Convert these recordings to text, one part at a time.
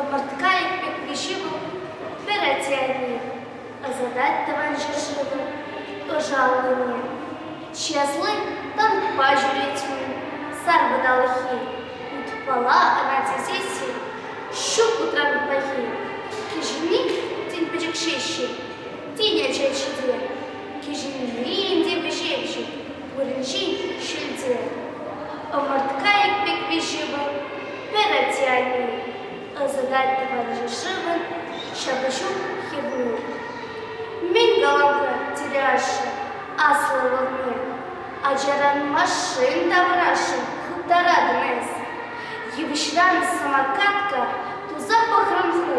Ӑпӑртка икпекри ҫывӑх пӗр атте-анне ӑсатать тӑван ҫӗршывӑн ӑшаллине. Часли танкпа ҫӳрет мӗн, сар вӑталӑххи. Утпала ӑна тесе те ҫук утран пахи. Кӗҫӗнни тен пӗчӗкҫеҫҫӗ, Тинӗсӗ ҫите, кӗҫӗннин те вӗҫевҫи, вырӑнҫин ҫилте. Ӑмӑрткайӑк пек виҫи вӑл, пӗротяни, ӑсӑтать тӑванҫи шывӑн ҫапӑҫу хӗрни. Мӗн калам-ха, тӗрӗ-ашшӗ, аслӑ лӑпкӑн, ачаран машин таврашӗ хыптаратӑн эс. Йывӑҫран самокатка туса пӑхрӑм ху,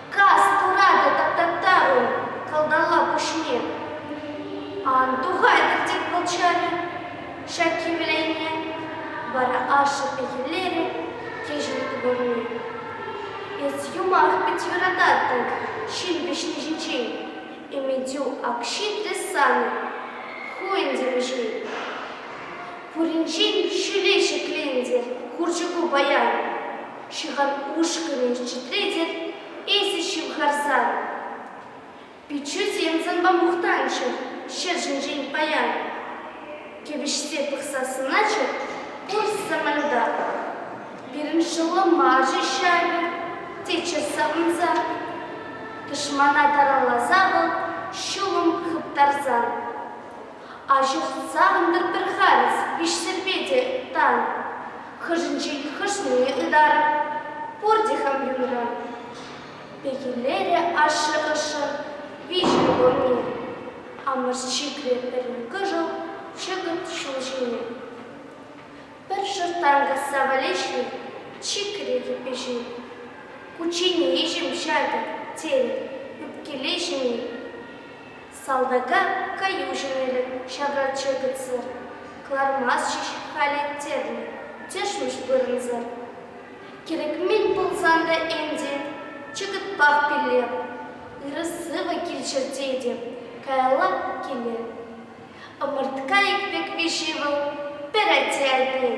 Кас пыратӗ тата-та-у, кӑлтала пуҫне ан тухайтӑр тет молчанӗ ҫак хӗвлене, вара ашшӗ пехиллерӗ кӗҫӗн ывӑлне. Эс юмах пек юрататтӑн ҫил вӗҫни ҫинчен, Эментю Акҫи те санӑн, ху ӗнтӗ вӗҫен. Пуринчен ҫӳле ҫӗклентӗр хурчӑку паян. ҫыхан ушкӑнӗ чӗтретӗп эсӗ ҫывхарсан. Пиччӳсем санпа мухтанччӑр ҫӗршӗнчен паян, кӗвӗҫсе пӑхса сӑнатчӑр пуҫ саманта. Пирӗн шӑллӑмарчӗ ҫавӗ теччӗ савӑнса, тӑшмана таралласа вӑл ҫулӑм хыптарсан. Аҫу сутса антӑр пӗр-ха эс, ишсӗрпе те тан. Хӑшӗнчен хӑшне ытар, пурте хам юнра. Пехиллерӗ ашшӗ ӑшшӑн виҫӗ ывӑлне. Амӑш чикрӗ пӗрин кӑшӑл чӑкӑт ҫул ҫине. Пӗр шӑрттан касса валеҫнӗ чикрӗ йӗпе ҫине. Кучченеҫӗм ҫакӑ, тен, ӳпкелеҫӗн-и? Салтака каю ҫӗмӗрӗ ҫавраччӑр кӗтсӗр. Кӑлармастчӗҫ халӗ тӗрлӗ тӗшмӗш вырӑнсӑр. Кӗрӗкмен пулсан та ӗнтӗ чӑкӑтпах пӗлеп. Ырӑ-сывӑ килччӗр тетӗп, каялла киле. Ӑмӑрткайӑк пек виҫи вӑл пӗр атте-атне.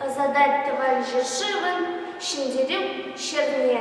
Ӑсатать тӑван ҫӗршывӑн Ҫӗнтерӳ ҫӗрне.